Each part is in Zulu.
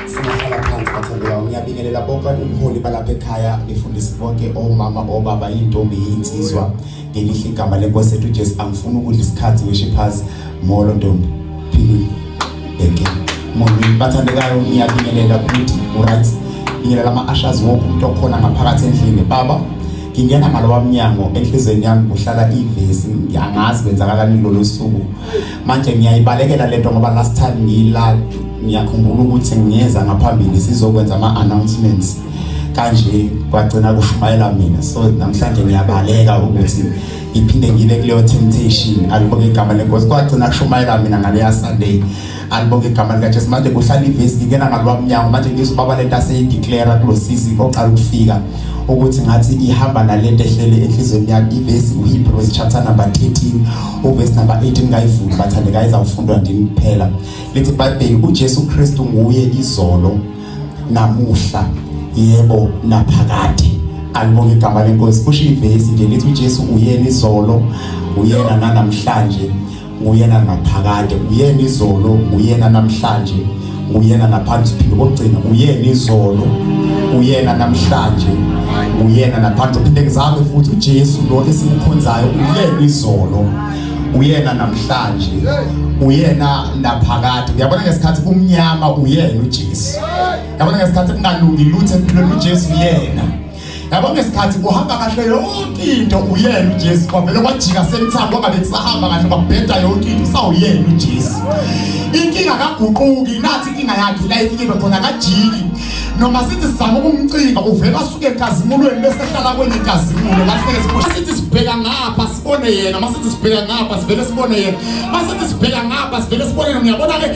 Singahlala phansi bathandeka ngiyabingelela bonke ubuholi balapha ekhaya ngifundisi bonke omama obaba intombi yinsizwa ngelihle igama lenkosi ethu Jesu angifuni ukudla isikhathi ngisho phansi molo ntombi philile bheke molo bathandekayo ngiyabingelela futhi uright bingelela ama-ashas wonke umuntu okhona ngaphakathi endlini baba ngingena ngalowa mnyango enhlizweni yami kuhlala ivesi ngiyangazi kwenzakalani lolo suku manje ngiyayibalekela lento ngoba last time ngiyila ngiyakhumbula ukuthi ngiyeza ngaphambili sizokwenza ama announcements kanje kwagcina kushumayela mina so namhlanje ngiyabaleka ukuthi ngiphinde ngibe kuleyo temptation alibuke igama lenkosi kwagcina kushumayela mina ngaleya sunday Alibonge igama lika Jesu manje kuhlala ivesi ngingena ngalwa mnyango manje ngizwa baba lento aseyideclare kulosisi oqala ukufika ukuthi ngathi ihamba nalento ehlele enhlizweni yakhe ivesi uHebrews chapter number 13 uverse number 18 ngayivula bathande kayiza kufundwa ndini kuphela lithi Bible uJesu Kristu nguye izolo namuhla yebo naphakade alibonge igama lenkosi kusho ivesi nje lithi uJesu uyena izolo uyena nanamhlanje nguyena ngaphakade uyena izolo uyena namhlanje uyena naphansi phinde kokugcina uyena izolo uyena namhlanje uyena naphansi phinde ngizame futhi uJesu lo esimkhonzayo uyena izolo uyena namhlanje uyena naphakade uyabona ngesikhathi kumnyama uyena uJesu uyabona ngesikhathi kungalungi lutho empilweni uJesu uyena yabo ngesikhathi kuhamba kahle yonke into uyena uJesu kwavele kwajika semthambo kwangabe kusahamba kahle kwabheda yonke into sawuyena uJesu inkinga kaguquki nathi inkinga yakhe la ifikile khona kajiki noma sithi sizama ukumcinga uvela asuke enkazimulweni bese ehlala kwenye inkazimulo kahleke sibona sithi sibheka ngapha sibone yena masithi sibheka ngapha sivele sibone yena masithi sibheka ngapha sivele sibone yena uyabona ke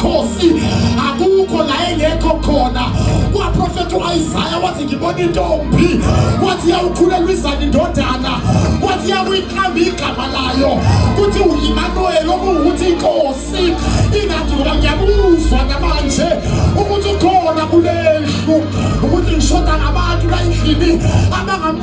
Khosi akukho la engekho khona kwaprofetha u-isaya wathi ngibona intombi wathi yawukhulelwa izana indodana wathi yakuyiqamba igama layo kuthi uyimanuweli okuwukuthi inkosi ingathi ngoba ngiyabuzwa namanje ukuthi ukhona kulendlu ukuthi ngishoda ngabantu la endlini abangam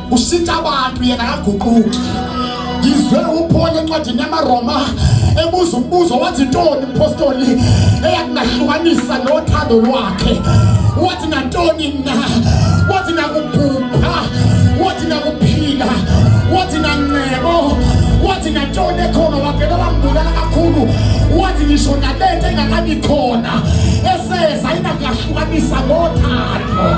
ushintsha abantu yena akaguquki ngizwe uphole encwadini yamaroma ebuza umbuzo wathi ntoni mpostoli eyakunahlukanisa nothando lwakhe wathi nantoni na wathi nakubhubha wathi nakuphila wathi nancebo wathi nantoni ekhona wavele wambulala kakhulu wathi ngisho nalento engakabi khona eseza inakuyahlukanisa ngothando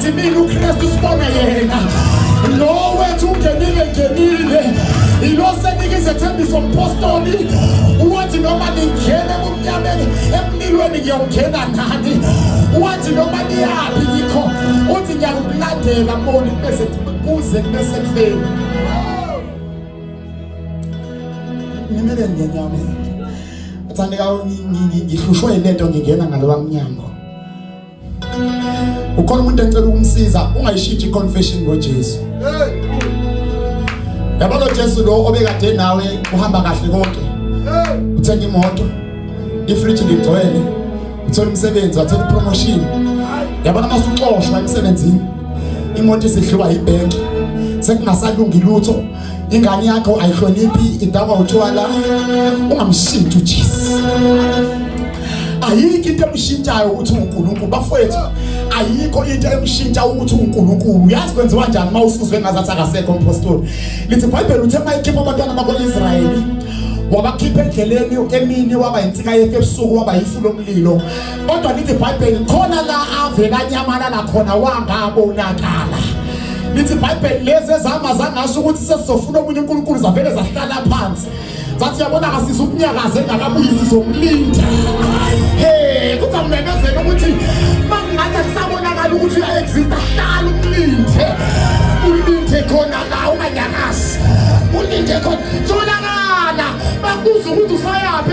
Thina uKristu sibona yena lo wethu ungenile ngenile ilo senike izethembiso mpostoli wathi noma ningena kumnyameni emlilweni ngiyongena nani wathi noma niyaphi ngikho uthi ngiyakulandela moni bese kuze kube sekufeni ngimele ngenyama athandeka ngihlushwe yilento ngingena ngalowa mnyango ukhona umuntu ecela ukumsiza ungayishintshi iconfession ngoJesu yabo lo Jesu lo obekade nawe uhamba kahle konke uthenga imoto ifridge ligcwele uthola umsebenzi wathola ipromotion yabo namasuxoshwa emsebenzini imoto isihluba ibhenki sekungasalungi lutho ingane yakho ayihloniphi idakwa utshwala ungamshintsha uJesu ayikho into emshintshayo ukuthi uNkulunkulu bafowethu ayikho into emshintsha ukuthi uNkulunkulu uyazi kwenziwa kanjani uma usuzwe ngazathi akasekho umpostoli lithi iBhayibheli uthe mayikhipha abantwana bakwaIsrayeli wabakhipha endleleni emini waba yinsika yefe ebusuku waba yifu lomlilo kodwa lithi ibhayibheli khona la avele anyamalala khona wangabonakala lithi ibhayibheli lezi ezihamba zangasho ukuthi sesizofuna okunye unkulunkulu zavele zahlala phansi zathi yabona kasisa ukunyakaza engakabuyi sizomlinda he kuthi amemezele ukuthi mangingathi akusabonakala ukuthi uya-exista hlala umlinde ulinde khona la unganyakazi ulinde khona tholakala bakubuza ukuthi usayaphi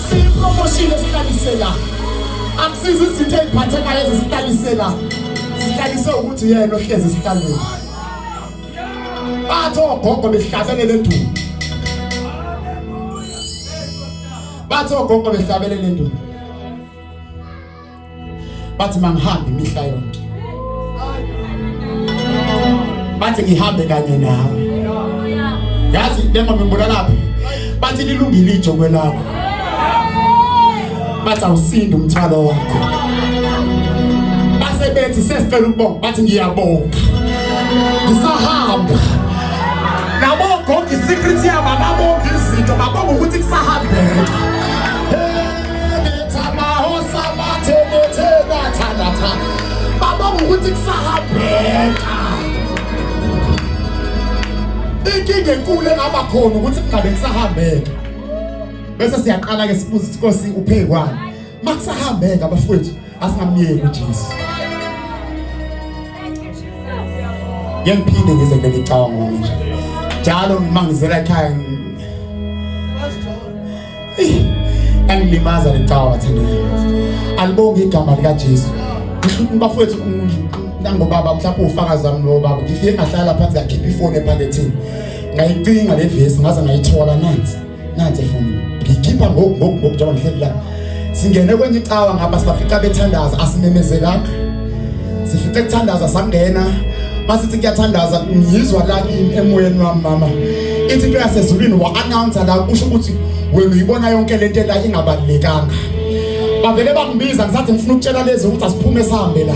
Siyipromoshile sihlalise la. Akusizi izinto eziphathekayo ezisihlalise la. Sihlalise ukuthi yena ohlezi sihlalile. Bathi ogogo behlabele lenduku. Bathi ogogo behlabele lenduku. bathi mangihambe imihla yonke bathi ngihambe kanye nawe yazi lemama imbulalaphi bathi lilungile ijokwe lakho bathi awusindi umthwalo wakho base bethi sesicela ukubonga bathi ngiyabonga ngisahamba nabogoga isecret yabo ababonga izinto babonga ukuthi kusahambeka inkinga enkulu engaba khona ukuthi kungabe kusahambeka bese siyaqala-ke sibuze ukuthi nkosi uphekwani makusahambeka bafowethu asamyeke uJesu ngiyaphinde ngize ngelicabanga manje njalo ngimangizela ekhaya angilimaza licaba bathandayo alibonge igama likaJesu bafowethu nangobaba mhlawumbe ufakazi wami nobaba ngifike ngahlala phansi ngakhipha ifoni ephakethini ngayicinga le vesi ngaze ngayithola nansi nansi efonini ngikhipha ngoku ngoku ngoku njengoba ngihleli la singene kwenye icawa ngapha sibafica bethandaza asimemezelanga sifice kuthandaza sangena masithi kuyathandaza ngizwa la kimi emoyeni wami mama ithi into yasezulwini wa-announsa la kusho ukuthi wena uyibona yonke le nto la ingabalulekanga bavele bangibiza ngisathi ngifuna ukutshela lezi ukuthi asiphume sihambe la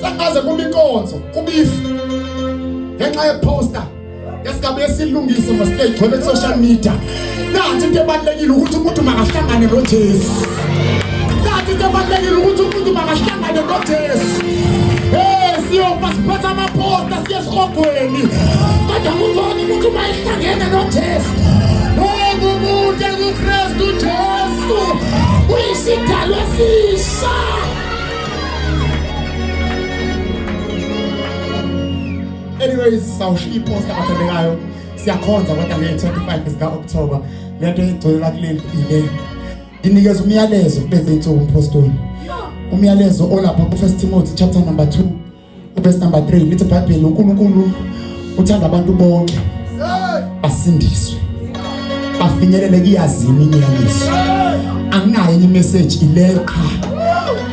Sakaze kuma inkonzo kubifu ngenxa yeposter esingabe esilungise masike igcwele social media nanti into ebalekile ukuthi umuntu makahlangane noJesu nanti into ebalekile ukuthi umuntu makahlangane noJesu hey siyoba siphatha amaposter siye esihogweni kodwa umuntu wonke umuntu mayihlangene noJesu hey umuntu uKristu Jesu uyisidalwa esihle anyways sawushiya iposta abathandekayo siyakhonza kodwa ngeye-25 zika-okthoba le nto egcwelela kuleli ile nginikeza umyalezo kulezi nsuku umphostoli umyalezo olapha kufirst timothy chapter number 2 Verse number 3 lithi iBhayibheli uNkulunkulu uthanda abantu bonke basindiswe bafinyelele kuyazini inyaniso anginayo enye message ileyo qha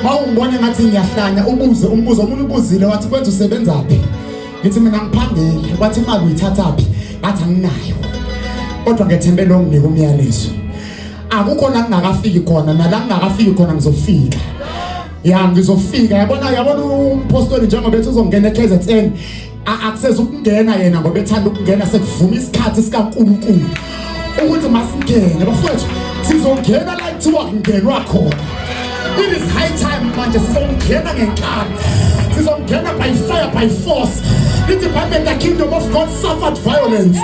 mawungibona ngathi ngiyahlanya ubuze umbuzo omunye ubuzile wathi kwenza usebenzaphi ngithi mina ngiphangeli wathi imali uyithathaphi ngathi anginayo kodwa ngethembe lo nginika umyalezo akukho la ngingakafiki khona nala ngingakafiki khona ngizofika ya ngizofika yabona yabona umpostoli njengoba ethi uzongena eKZN akuseza ukungena yena ngoba ethanda ukungena sekuvuma isikhathi sikaNkulunkulu ukuthi masingene bafowethu sizongena la kuthiwa kungenwa khona it is high time manje sizongena ngenkani sizongena by fire by force the department the kingdom of god suffered violence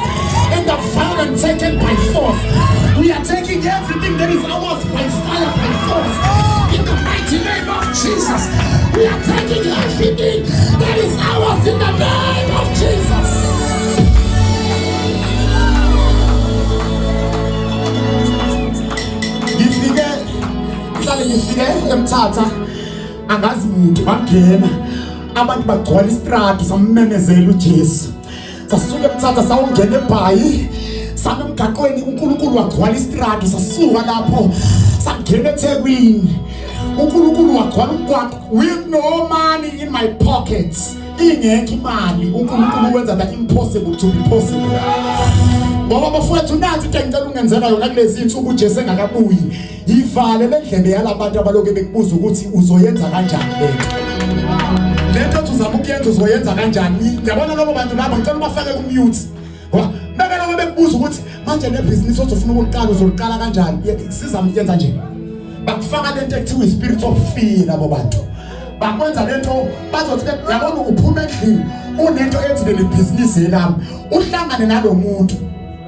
and the violence taken by force we are taking everything that is out emthatha angazi muntu bangena abantu bagcwala isitradi samemezela uJesu sasuke mthatha sawungena ebhayi sami emgaqweni uNkulunkulu wagcwala istradi sasuka lapho sangena eThekwini uNkulunkulu wagcwala umgwaqo with no money in my pockets ingekho imali uNkulunkulu wenza the impossible to be possible ngoba bafowethu nathi into engicela ungenzela yona kulezi insuku uJesu engakabuyi Yivale le ndlebe yalabantu abaloke bekubuza ukuthi uzoyenza kanjani lento. Lento othi uzama ukuyenza uzoyenza kanjani? Yabona labo bantu labo ngicela ubafake ku mute. Beka labo bekubuza ukuthi manje le business othi ufuna ukuliqala uzoliqala kanjani? Siza yenza nje. Bakufaka lento ekuthiwa i spirit of fear labo bantu. bakwenza lento bazothi yabona uphuma endlini unento ethi leli bhizinisi yelami uhlangane nalomuntu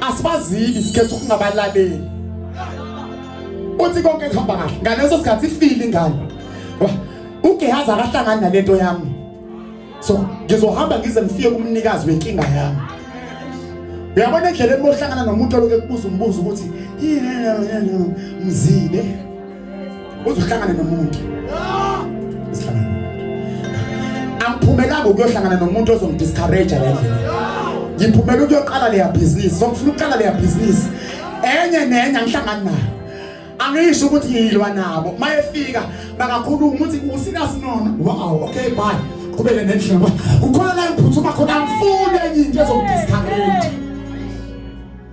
asibazili sikhetha ukungabalaleli uthi konke kuhamba kahle ngaleso sikhathi ifile ingane uGehazi akahlangani nalento yami so ngizohamba ngize ngifike kumnikazi wenkinga yami uyabona indlela emohlangana nomuntu oloke kubuza umbuzo ukuthi yini mzile uzohlangana nomuntu angiphumelanga ukuyohlangana nomuntu ozongidiscourage la ndlela ngiphumela ukuyoqala leya bhizinisi songifuna ukuqala leya bhizinisi enye nenye angihlangani nayo angisho ukuthi ngiyilwa nabo mayefika bakakhuluma ukuthi usikasinona wow okay bye qhubeke nendlela ukhona la ngiphuthuma khona angifuni enye into ezongidiscourage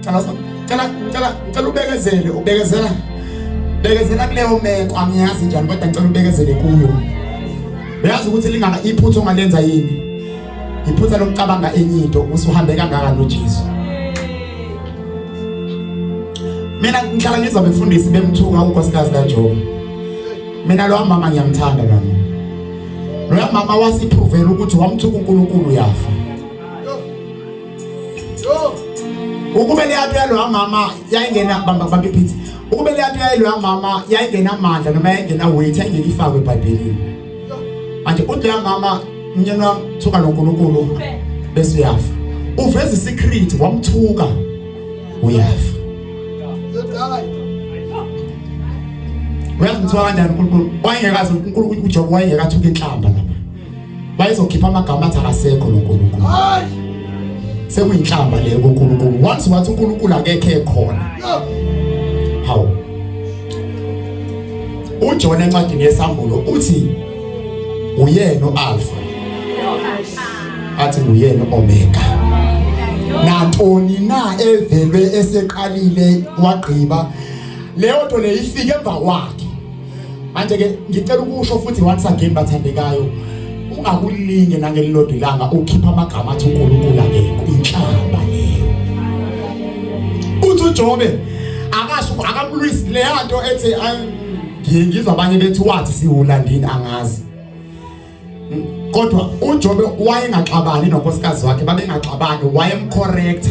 cela cela cela cela ubekezele ubekezela bekezela kuleyo meko angiyazi njani kodwa ngicela ubekezele kuyo uyazi ukuthi lingaba iphutha ongalenza yini iphutha lokucabanga enye into usuhambe kangaka noJesu mina ngihlala ngizwa befundisi bemthuka unkosikazi kaJobe mina lo mama ngiyamthanda nami lo mama wasiphuvela ukuthi wamthuka uNkulunkulu yafa ukube leyatu yaloya mama yayingena bamba bamba iphithi ukube leyatu yaloya mama yayingena amandla noma yayingena weight yayingeke ifakwe ebhayibhelini manje uthi loya mama mnyeni wami thuka nonkulunkulu bese uyafa uveza isecret wamthuka uyafa uyazimthiwa kanjani unkulunkulu wayengekazi unkulunkulu ujobo wayengekathuka inhlamba lapha bayizokhipha amagama athi akasekho lo Nkulunkulu sekuyinhlamba leyo kuNkulunkulu once wathi uNkulunkulu akekho ekhona hawu uJona encwadini yesambulo uthi uyena uAlpha athi uyena uOmega nantoni na evelwe eseqalile wagqiba leyo nto leyifike emva kwakhe manje ke ngicela ukusho futhi once again bathandekayo ungakulinge nangelilodwa ilanga ukhipha amagama athi uNkulunkulu akekho inhlamba leyo uthi uJobe akasho akamlwisi leya nto ethi ngiyizwa abanye bethi wathi siwulandini angazi kodwa uJobe wayengaxabani nonkosikazi wakhe babengaxabani wayemcorrecta